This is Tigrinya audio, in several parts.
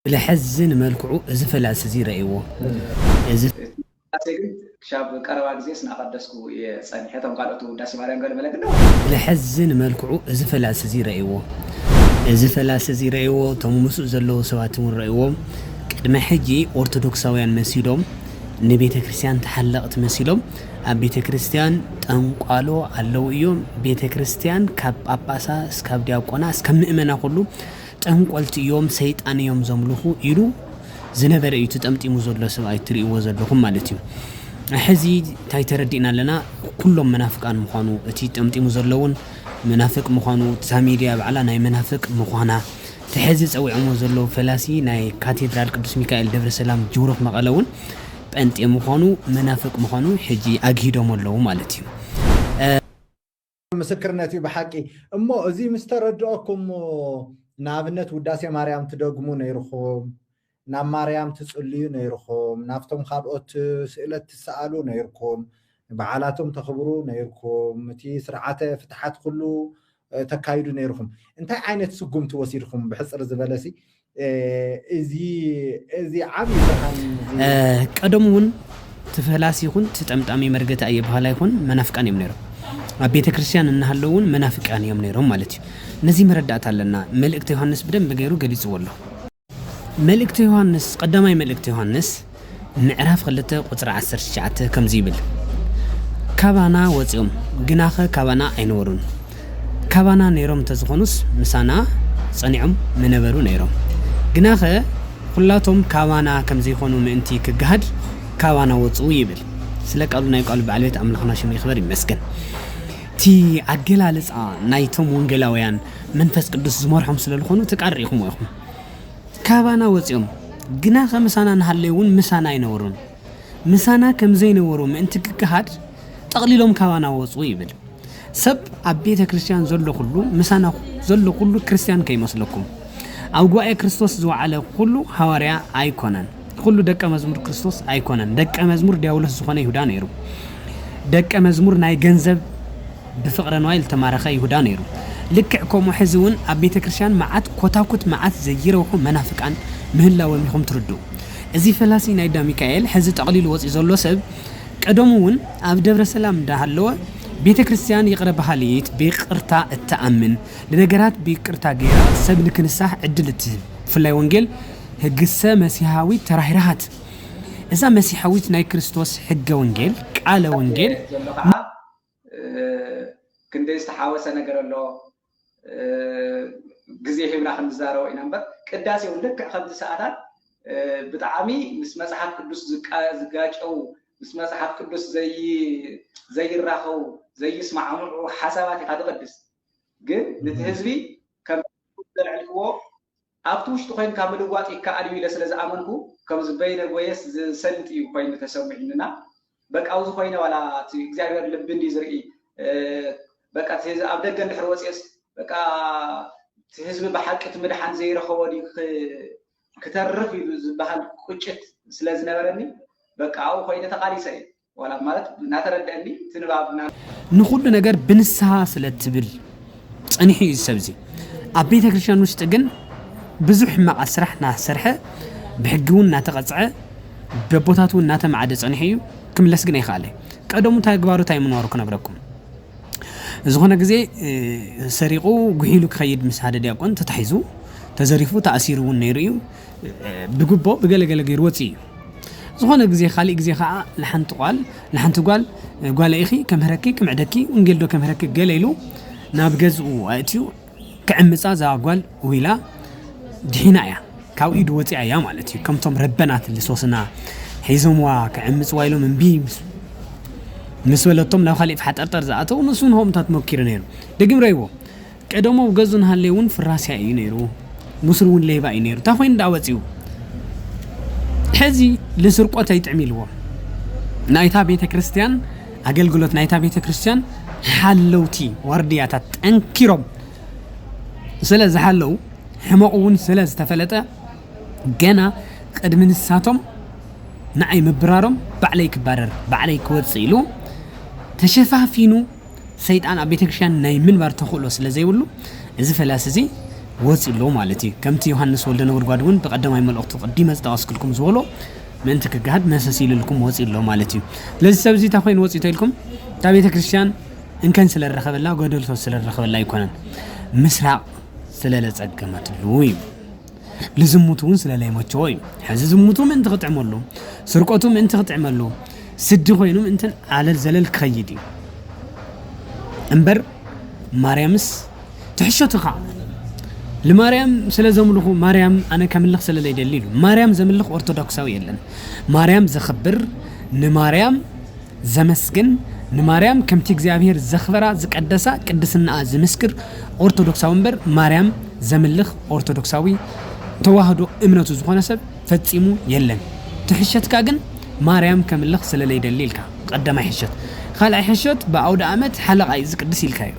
ብለሐዝን መልክዑ እዚ ፈላሲ እዚ ረእይዎ እዚ። እቲ ውዳሴ ግን ክሻብ ቀረባ ግዜስ እናቐደስኩ እየ ጸኒሐ፣ እቶም ካልኦት ውዳሴ ማርያም ገለ መለ ግን ነዊሕ። ብለሐዝን መልክዑ እዚ ፈላሲ እዚ ረእይዎ እዚ ፈላሲ እዚ ረእይዎ፣ እቶም ምስኡ ዘለዉ ሰባት እውን ረእይዎ፣ ቅድመ ሕጂ ኦርቶዶክሳውያን መሲሎም ንቤተ ክርስቲያን ተሓለቕቲ መሲሎም ኣብ ቤተ ክርስቲያን ጠንቋሎ ኣለዉ እዮም፣ ቤተ ክርስቲያን ካብ ጳጳሳ እስካብ ዲያቆና እስካብ ምእመና ኩሉ ጠንቆልቲ እዮም ሰይጣን እዮም ዘምልኹ ኢሉ ዝነበረ እዩ እቲ ጠምጢሙ ዘሎ ሰብኣይ እትሪእዎ ዘለኹም ማለት እዩ ሕዚ እንታይ ተረዲእና ኣለና ኩሎም መናፍቃን ምዃኑ እቲ ጠምጢሙ ዘሎ እውን መናፍቅ ምዃኑ እታ ሚድያ ባዕላ ናይ መናፍቅ ምዃና እቲ ሕዚ ፀዊዖሞ ዘለዉ ፈላሲ ናይ ካቴድራል ቅዱስ ሚካኤል ደብረ ሰላም ጅውሩኽ መቐለ እውን ጴንጤ ምዃኑ መናፍቅ ምዃኑ ሕጂ ኣግሂዶሞ ኣለዉ ማለት እዩ። ምስክርነት እዩ ብሓቂ እሞ እዚ ምስ ተረድኦኩም ንኣብነት ውዳሴ ማርያም ትደግሙ ነይርኹም ናብ ማርያም ትጽልዩ ነይርኹም ናብቶም ካልኦት ስእለት ትሰኣሉ ነይርኩም በዓላቶም ተኽብሩ ነይርኩም እቲ ስርዓተ ፍትሓት ኩሉ ተካይዱ ነይርኹም እንታይ ዓይነት ስጉምቲ ወሲድኹም ብሕጽር ዝበለሲ ቀደሙ እውን እቲ ፈላሲ ይኹን እቲ ጠምጣሚ መርገቲ ኣየባህላ ይኹን መናፍቃን እዮም ነይሮም ኣብ ቤተ ክርስቲያን እናሃለው እውን መናፍቃን እዮም ነይሮም ማለት እዩ ነዚ መረዳእታ ኣለና መልእክቲ ዮሃንስ ብደንብ ገይሩ ገሊፅዎ ኣሎ መልእክቲ ዮሃንስ ቀዳማይ መልእክቲ ዮሃንስ ምዕራፍ ክልተ ቁጽሪ ዓሰርተ ትሽዓተ ከምዚ ይብል ካባና ወጺኦም ግናኸ ካባና ኣይነበሩን ካባና ነሮም እንተዝኾኑስ ምሳና ጸኒዖም ምነበሩ ነሮም ግናኸ ኹላቶም ካባና ከምዘይኾኑ ምእንቲ ክገሃድ ካባና ወጹ ይብል ስለ ቃሉ ናይ ቃሉ በዓል ቤት ኣምላኽና ሽሙ ይኽበር ይመስገን እቲ ኣገላልጻ ናይቶም ወንጌላውያን መንፈስ ቅዱስ ዝመርሖም ስለ ዝኾኑ እቲ ቃል ርኢኹሞ ኢኹም ካባና ወጺኦም ግናኸ ምሳና እንሃለዩውን ምሳና ኣይነበሩን። ምሳና ከም ዘይነበሩ ምእንቲ ክገሃድ ጠቕሊሎም ካባና ወጹ ይብል። ሰብ ኣብ ቤተ ክርስቲያን ዘሎ ኩሉ ምሳና ዘሎ ኩሉ ክርስቲያን ከይመስለኩም። ኣብ ጉባኤ ክርስቶስ ዝወዓለ ኩሉ ሃዋርያ ኣይኮነን። ኩሉ ደቀ መዝሙር ክርስቶስ ኣይኮነን። ደቀ መዝሙር ዲያብሎስ ዝኾነ ይሁዳ ነይሩ። ደቀ መዝሙር ናይ ገንዘብ ብፍቅረ ንዋይ ልተማረኸ ይሁዳ ነይሩ ልክዕ ከምኡ ሕዚ ውን ኣብ ቤተ ክርስትያን መዓት ኮታኩት መዓት ዘይረብሑ መናፍቃን ምህላወም ኢኹም ትርድኡ እዚ ፈላሲ ናይ ዳ ሚካኤል ሕዚ ጠቅሊሉ ወጽዩ ዘሎ ሰብ ቀደሙ ውን ኣብ ደብረ ሰላም እንዳ ሃለወ ቤተ ክርስትያን ይቅረ በሃሊት ብይቅርታ እትኣምን ንነገራት ብይቅርታ ገይራ ሰብ ንክንሳሕ ዕድል እትህብ ብፍላይ ወንጌል ህግሰ መሲሃዊት ተራህራሃት እዛ መሲሐዊት ናይ ክርስቶስ ሕገ ወንጌል ቃለ ወንጌል ክንደይ ዝተሓወሰ ነገር ኣሎ ግዜ ሂብና ክንዛረቦ ኢና እምበር ቅዳሴ እውን ልክዕ ከምዚ ሰዓታት ብጣዕሚ ምስ መጽሓፍ ቅዱስ ዝጋጨው ምስ መጽሓፍ ቅዱስ ዘይራኸቡ ዘይስማዕምዑ ሓሳባት ኢኻ ትቕድስ ግን ነቲ ህዝቢ ከም ዘልዕልክዎ ኣብቲ ውሽጢ ኮይንካ ምልዋጥ ይከኣል እዩ ኢለ ስለ ዝኣመንኩ ከምዚ በይነ ጎየስ ዝሰልጥ እዩ ኮይኑ ተሰሙዒኒ እና በቃ ውዚ ኮይነ ዋላ እቲ እግዚኣብሔር ልቢ እንድዩ ዝርኢ በቃ እቲ ኣብ ደገ እንድሕር ወፅየስ በቃ እቲ ህዝቢ ብሓቂ እቲ ምድሓን ዘይረኸቦ ድዩ ክተርፍ ኢሉ ዝበሃል ቁጭት ስለ ዝነበረኒ በቃ ኣብኡ ኮይነ ተቓሊሰ እየ። ዋላ ማለት እናተረደአኒ እቲ ንባብ ንኹሉ ነገር ብንስሃ ስለ ትብል ጸኒሑ እዩ ሰብዚ ኣብ ቤተ ክርስቲያን ውሽጢ ግን ብዙሕ ሕማቃት ስራሕ ናሰርሐ ብሕጊ እውን እናተቐጽዐ በቦታት እውን እናተማዕደ ጸኒሑ እዩ ክምለስ ግን ኣይከኣለ ቀደሙ እንታይ ግባሩ እንታይ ምንባሩ ክነግረኩም ዝኾነ ግዜ ሰሪቑ ጉሒሉ ክኸይድ ምስ ሓደ ዲያቆን ተታሒዙ ተዘሪፉ ተኣሲሩ እውን ነይሩ እዩ ብግቦ ብገለ ገለ ገይሩ ወጺኡ እዩ። ዝኾነ ግዜ ካሊእ ግዜ ከኣ ንሓንቲ ቋል ንሓንቲ ጓል ጓለይ ኢኺ ከምህረኪ ክምዕደኪ ውንጌል ዶ ከምህረኪ ገለ ኢሉ ናብ ገዝኡ ኣእትዩ ክዕምጻ እዛ ጓል ውኢላ ድሒና እያ ካብ ኢዱ ወጺኣ እያ ማለት እዩ። ከምቶም ረበናት ልሶስና ሒዞምዋ ክዕምጽዋ ኢሎም እምቢ ምስ በለቶም ናብ ካሊእ ፋሓጠርጠር ዝኣተው ንሱ ንሆምታት መኪሩ ነይሩ ደግም ረይዎ ቀደም ኣብ ገዙ እንሃለየ ውን ፍራስያ ኢዩ ነይሩ ቡሱር ውን ሌባ ኢዩ ነይሩ ታይ ኮይኑ ዳኣ ወጺኡ ሕዚ ልስርቆት ኣይጥዕም ኢልዎ ናይታ ቤተክርስትያን ኣገልግሎት ናይታ ቤተክርስትያን ሓለውቲ ዋርድያታት ጠንኪሮም ስለ ዝሓለው ሕመቑ ውን ስለ ዝተፈለጠ ገና ቅድሚ ንሳቶም ንዓይ ምብራሮም ባዕለይ ክባረር ባዕለይ ክወጽእ ኢሉ ተሸፋፊኑ ሰይጣን ኣብ ቤተክርስትያን ናይ ምንባር ተኽእሎ ስለ ዘይብሉ እዚ ፈላሲ እዚ ወፂኡ ኣሎ ማለት እዩ ከምቲ ዮሃንስ ወልደ ነጎድጓድ እውን ብቀዳማይ መልእኽቱ ቅዲመ ዝጠቐስክልኩም ዝበሎ ምእንቲ ክገሃድ መሰስ ኢልልኩም ወፂኡ ኣሎ ማለት እዩ ስለዚ ሰብ እዚ እታ ኮይኑ ወፂኡ ተኢልኩም እታ ቤተክርስትያን እንከን ስለ ዝረኸበላ ጎደልቶ ስለ ዝረኸበላ ኣይኮነን ምስራቕ ስለ ለፀገመትሉ እዩ ልዝሙት እውን ስለ ለይመቸዎ እዩ። ሕዚ ዝሙቱ ምእንቲ ክጥዕመሉ፣ ስርቆቱ ምእንቲ ክጥዕመሉ፣ ስዲ ኮይኑ ምእንትን ዓለል ዘለል ክኸይድ እዩ እምበር ማርያምስ ትሕሸትኻ ንማርያም ስለ ዘምልኹ ማርያም ኣነ ከምልኽ ስለ ዘይደሊ ኢሉ ማርያም ዘምልኽ ኦርቶዶክሳዊ የለን ማርያም ዘኽብር ንማርያም ዘመስግን ንማርያም ከምቲ እግዚኣብሔር ዘኽበራ ዝቀደሳ ቅድስናኣ ዝምስክር ኦርቶዶክሳዊ እምበር ማርያም ዘምልኽ ኦርቶዶክሳዊ ተዋህዶ እምነቱ ዝኾነ ሰብ ፈጺሙ የለን ትሕሸትካ ግን ማርያም ከምልኽ ስለለይደሊ ኢልካ ቐዳማይ ሕሸት ኻልኣይ ሕሸት ብኣውደኣመት ሓለቓይ ዝቅድስ ኢልካ እዩ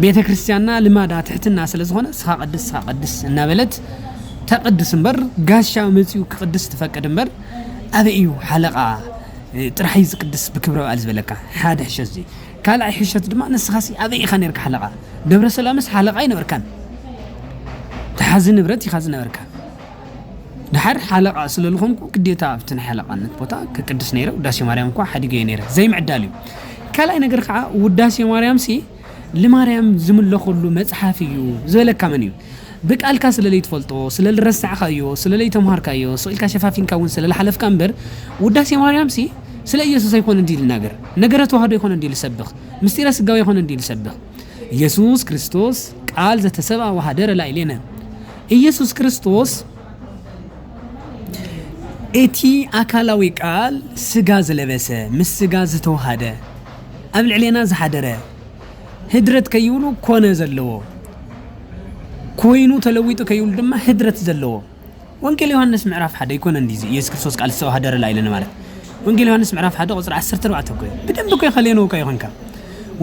ቤተክርስትያንና ልማዳ ትሕትና ስለዝኾነ ስኻ ቀድስ ስኻ ቀድስ እናበለት ተቅድስ እምበር ጋሻ መጺኡ ክቅድስ ትፈቅድ እምበር ኣበይ እዩ ሓለቓ ጥራሕ እዩ ዝቅድስ ብክብረ በዓል ዝበለካ ሓደ ሕሸት እዚ ካልኣይ ሕሸት ድማ ንስኻሲ ኣበይ ኢኻ ነርካ ሓለቓ ደብረ ሰላምስ ሓለቓ ኣይነበርካን ተሓዚ ንብረት ኢኻ ዝነበርካ ድሓር ሓለቓ ስለ ዝኾንኩ ግዴታ ኣብቲ ናይ ሓለቓነት ቦታ ክቅድስ ነይረ ውዳሴ ማርያም እኳ ሓዲገዮ ነይረ ዘይምዕዳል እዩ ካልኣይ ነገር ከዓ ውዳሴ ማርያም ሲ ልማርያም ዝምለኹሉ መጽሓፍ እዩ ዝበለካ መን እዩ? ብቃልካ ስለለይትፈልጦ፣ ስለልረሳዕካዮ፣ ስለለይተምሃርካዮ፣ ስቅ ኢልካ ሸፋፊንካ ውን ስለልሓለፍካ እምበር ውዳሴ ማርያምሲ ስለ ኢየሱስ ኣይኮነን ድዩ ልናገር? ነገረ ተዋህዶ ኣይኮነን ድዩ ልሰብኽ? ምስጢረ ስጋዌ ኣይኮነን ድዩ ልሰብኽ? ኢየሱስ ክርስቶስ ቃል ዘተሰብኣ ወሃደረ ላዕሌነ ኢየሱስ ክርስቶስ እቲ ኣካላዊ ቃል ስጋ ዝለበሰ ምስ ስጋ ዝተዋሃደ ኣብ ልዕሌና ዝሓደረ ህድረት ከይብሉ ኮነ ዘለዎ ኮይኑ ተለዊጡ ከይብሉ ድማ ህድረት ዘለዎ ወንጌል ዮሃንስ ምዕራፍ ሓደ ይኮነ እንዲ ኢየሱስ ክርስቶስ ቃል ሰው ሃደረ ላይለን ማለት ወንጌል ዮሃንስ ምዕራፍ ሓደ ቁፅሪ 14 እኮ ብደንብ እኮ ይኸሌኑ እኮ ይኾንካ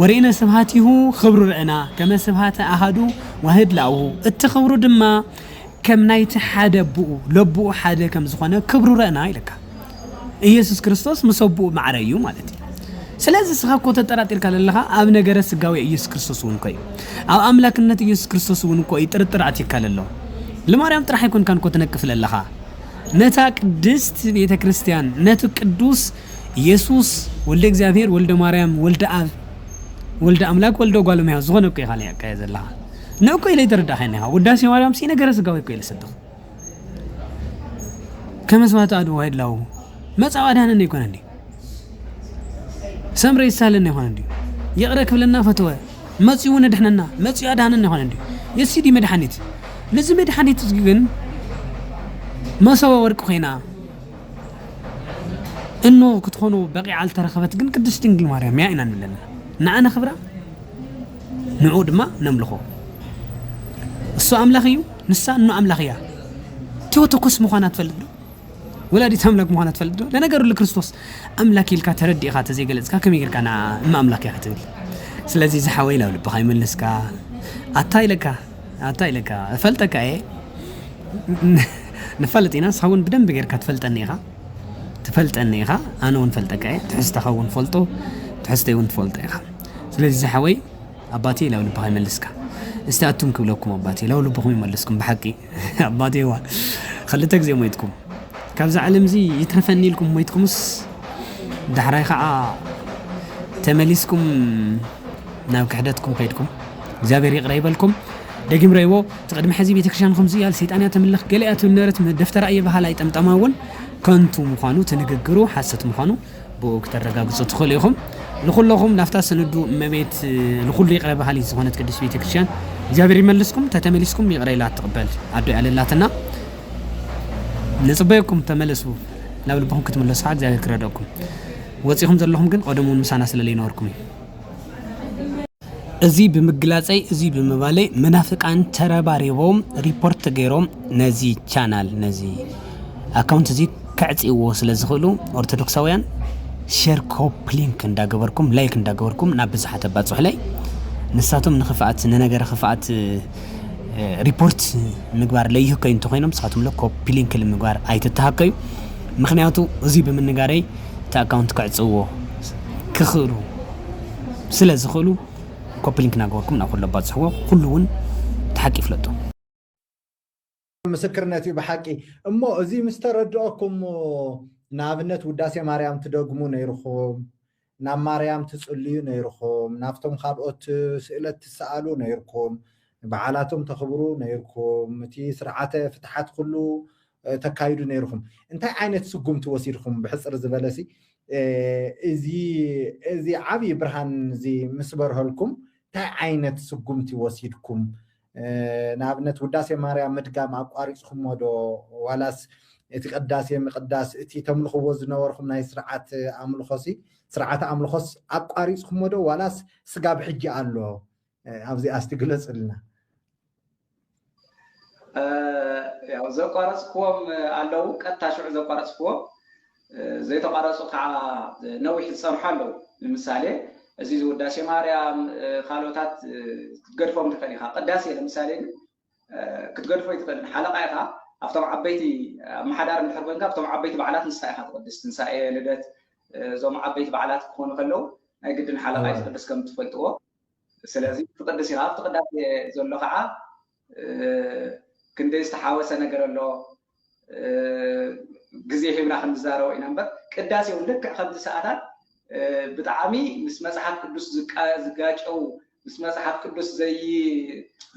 ወሬነ ስብሃቲሁ ክብሩ ርዕና ከመ ስብሃተ ኣሃዱ ዋህድ ላኡ እቲ ክብሩ ድማ ከም ናይቲ ሓደ ኣቦኡ ለቦኡ ሓደ ከም ዝኾነ ክብሩ ርዕና ኢለካ ኢየሱስ ክርስቶስ ምስ ኣቦኡ ማዕረ እዩ ማለት እዩ። ስለዚ እስኻ እኮ ተጠራጢርካ ለለኻ ኣብ ነገረ ስጋዌ ኢየሱስ ክርስቶስ እውን እኮ እዩ። ኣብ ኣምላክነት ኢየሱስ ክርስቶስ እውን እኮ እዩ ጥርጥር ኣትዩካ ለሎ። ልማርያም ጥራሕ ኣይኮንካን እኮ ትነቅፍ ለለኻ። ነታ ቅድስት ቤተ ክርስቲያን ነቲ ቅዱስ ኢየሱስ ወልደ እግዚኣብሔር ወልደ ማርያም ወልደ ኣብ ወልደ ኣምላክ ወልደ ጓል እመሕያው ዝኾነ እኮ ኢኻ ለካ ዘለኻ ንእኮ ኢለ ይተረዳእኻኒ ኢኻ ውዳሴ ማርያም ሲ ነገረ ስጋዊ እኮ ኢለ ሰብኽ ከመስዋዕት ኣድዋ ይድላው መጻው ኣድሃነኒ ይኮነ እንዲ ሰምረ ይሳለኒ ይኮነ እንዲ ይቕረ ክብለና ፈተወ መጺኡ እውን ድሕነና መጺኡ ኣድሃነኒ ይኮነ እንዲ የሲዲ መድሓኒት ነዚ መድሓኒት እዚ ግን መሰወ ወርቂ ኮይና እኖ ክትኾኑ በቂዓ ዝተረኸበት ግን ቅድስት ድንግል ማርያም እያ ኢና ንብለና ንዓ ነኽብራ ንዑ ድማ ነምልኾ እሱ ኣምላኽ እዩ ንሳ እኖ ኣምላኽ እያ። ቲዮቶኮስ ምዃና ትፈልጥ ዶ? ወላዲት ኣምላክ ምዃና ትፈልጥ ዶ? ለነገሩ ልክርስቶስ ኣምላክ ኢልካ ተረዲእኻ ተዘይገለጽካ ከመይ ጌርካ ንዓ እመ ኣምላክ እያ ክትብል? ስለዚ ዝሓወይ ናብ ልብኻ ይመልስካ። ኣታ ኢለካ ኣታ ኢለካ እፈልጠካ እየ ንፋለጥ ኢና ንስኻ እውን ብደንብ ጌርካ ትፈልጠኒ ኢኻ ትፈልጠኒ ኢኻ ኣነ እውን ፈልጠካ እየ ትሕዝተኻ እውን ፈልጦ ትሕዝተይ እውን ትፈልጦ ኢኻ ስለዚ ዝሓወይ ኣባቴ ላው ልብኻ ይመልስካ እስቲ ኣቱም ክብለኩም ኣባቴ ላው ልብኹም ይመልስኩም ብሓቂ ኣባቴዋ ክልተ ግዜ ሞይትኩም ካብዛ ዓለም እዚ ይትረፈኒ ኢልኩም ሞይትኩምስ ዳሕራይ ከዓ ተመሊስኩም ናብ ክሕደትኩም ከይድኩም እግዚኣብሔር ይቕረ ይበልኩም ደጊም ረይዎ እቲ ቅድሚ ሕዚ ቤተክርስትያን ከምዚ እያ ሰይጣን እያ ተምልኽ ገለ እያ ትብል ነበረት ደፍተራ እየ በሃላይ ጠምጠማ እውን ከንቱ ምዃኑ ትንግግሩ ሓሰት ምዃኑ ብኡ ክተረጋግጹ ትኽእሉ ኢኹም። ንኹሎኹም ናፍታ ስንዱ እመቤት ንኹሉ ይቕረ በሃሊት ዝኾነት ቅድስት ቤተ ክርስቲያን እግዚኣብሔር ይመልስኩም። ተተመሊስኩም ይቕረ ኢላ ትቕበል ኣዶ ያለላትና ንጽበየኩም ተመለሱ ናብ ልብኹም ክትምለሱ ከዓ እግዚኣብሔር ክረደኩም። ወጺኹም ዘለኹም ግን ቀደሙን ምሳና ስለለይነበርኩም እዩ። እዙይ ብምግላፀይ እዙይ ብምባለይ መናፍቃን ተረባሪቦም ሪፖርት ገይሮም ነዚ ቻናል ነዚ ኣካውንት እዙይ ከዕፅይዎ ስለ ዝኽእሉ ኦርቶዶክሳውያን ሸር ኮፕ ሊንክ እንዳገበርኩም ላይክ እንዳገበርኩም ናብ ብዙሓት ኣባፅሑለይ ንሳቶም ንክፍኣት ንነገረ ክፍኣት ሪፖርት ምግባር ለይህከዩ እንተኮይኖም ንስኻትኩም ለ ኮፒ ሊንክ ምግባር ኣይትተሃከዩ ምክንያቱ እዙይ ብምንጋረይ እቲ ኣካውንት ክዕፅዎ ክኽእሉ ስለ ዝኽእሉ ኮፒ ሊንክ ናገበርኩም ናብ ኩሉ ኣባጽሕዎ ኩሉ ውን እቲ ሓቂ ይፍለጦ። ምስክርነት እዩ ብሓቂ እሞ እዚ ምስ ተረድኦኩም ንኣብነት ውዳሴ ማርያም ትደግሙ ነይርኩም ናብ ማርያም ትጽልዩ ነይርኩም ናብቶም ካልኦት ስእለት ትሰኣሉ ነይርኩም በዓላቶም ተኽብሩ ነይርኩም እቲ ስርዓተ ፍትሓት ኩሉ ተካይዱ ነይርኹም እንታይ ዓይነት ስጉምቲ ወሲድኹም ብሕፅር ዝበለሲ እዚ ዓብዪ ብርሃን እዚ ምስ በርሀልኩም እንታይ ዓይነት ስጉምቲ ወሲድኩም ንኣብነት ውዳሴ ማርያም ምድጋም ኣቋሪፅኩሞ ዶ ዋላስ እቲ ቅዳሴ ምቅዳስ እቲ ተምልኽዎ ዝነበርኩም ናይ ስርዓት ኣምልኾሲ ስርዓተ ኣምልኾስ ኣቋሪፅኩሞ ዶ ዋላስ ስጋብ ሕጂ ኣሎ ኣብዚኣ እስቲ ግለፅልና። ዘቋረፅክዎም ኣለዉ፣ ቀጥታ ሽዑ ዘቋረፅክዎም፣ ዘይተቋረፁ ከዓ ነዊሕ ዝፀንሑ ኣለዉ። ንምሳሌ እዚ ውዳሴ ማርያም ካልኦታት ክትገድፎም ትኽእል ኢኻ። ቅዳሴ ንምሳሌ ግን ክትገድፎ ኣይትኽእልን ሓለቓ ኢኻ ኣብቶም ዓበይቲ ኣመሓዳሪ እንድሕር ኮንካ ኣብቶም ዓበይቲ በዓላት ንስኻ ኢኻ ትቕድስ ትንሳኤ ልደት እዞም ዓበይቲ በዓላት ክኾኑ ከለው ናይ ግድን ሓለቓ እዩ ዝቕድስ ከም ትፈልጥዎ ስለዚ ትቕድስ ኢኻ ኣብቲ ቅዳሴ ዘሎ ከዓ ክንደይ ዝተሓወሰ ነገር ኣሎ ግዜ ሂብና ክንዛረቦ ኢና እምበር ቅዳሴ እውን ልክዕ ከምቲ ሰዓታት ብጣዕሚ ምስ መፅሓፍ ቅዱስ ዝጋጨው ምስ መፅሓፍ ቅዱስ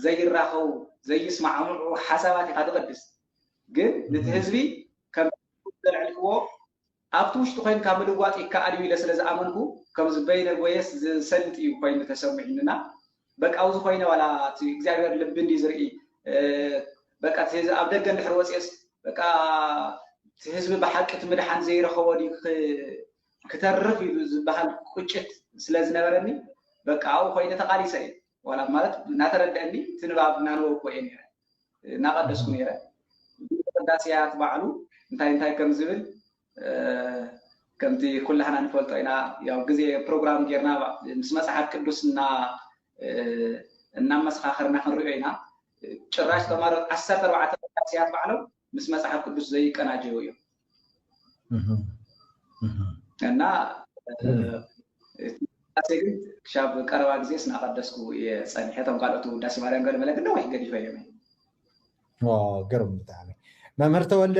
ዘይራኸቡ ዘይስማዕምዑ ሓሳባት ኢኻ ትቕድስ ግን ንቲ ህዝቢ ከም ዘልዕልክዎ ኣብቲ ውሽጢ ኮይንካ ምልዋጥ ይከኣል እዩ ኢለ ስለ ዝኣመንኩ ከምዚ በይነ ጎየስ ዝሰልጥ እዩ ኮይኑ ተሰሚዑኒ እና በቃ ውዚ ኮይነ ዋላ እቲ እግዚኣብሔር ልቢ እንድዩ ዝርኢ በቃ እቲ ኣብ ደገ እንድሕር ወፅኤስ በቃ እቲ ህዝቢ ብሓቂ እቲ ምድሓን ዘይረኸቦ ድዩ ክተርፍ ኢሉ ዝበሃል ቁጭት ስለ ዝነበረኒ በቃ ኣብኡ ኮይነ ተቓሊሰ እየ። ዋላ ማለት እናተረድአኒ እቲ ንባብ እናንበብኩ እየ ነይረ እናቐደስኩ ነይረ ቅዳሴያት ባዕሉ እንታይ እንታይ ከም ዝብል ከምቲ ኩላህና ንፈልጦ ኢና ያው ግዜ ፕሮግራም ጌርና ምስ መፅሓፍ ቅዱስ እና እናመሰኻኸርና ክንሪኦ ኢና ጭራሽ ተማሮ ዓሰርተ ኣርባዕተ ቅዳሴያት ባዕሎም ምስ መጽሓፍ ቅዱስ ዘይቀናጀው እዮም እና ቅዳሴ ግን ክሻብ ቀረባ ግዜ ስናቀደስኩ እየ ፀኒሐ እቶም ካልኦት ውዳሴ ማርያም ገለ መለ ግን ነዊሕ ገዲፈ እዮም ገርም ብጣዕሚ መምህር ተወልደ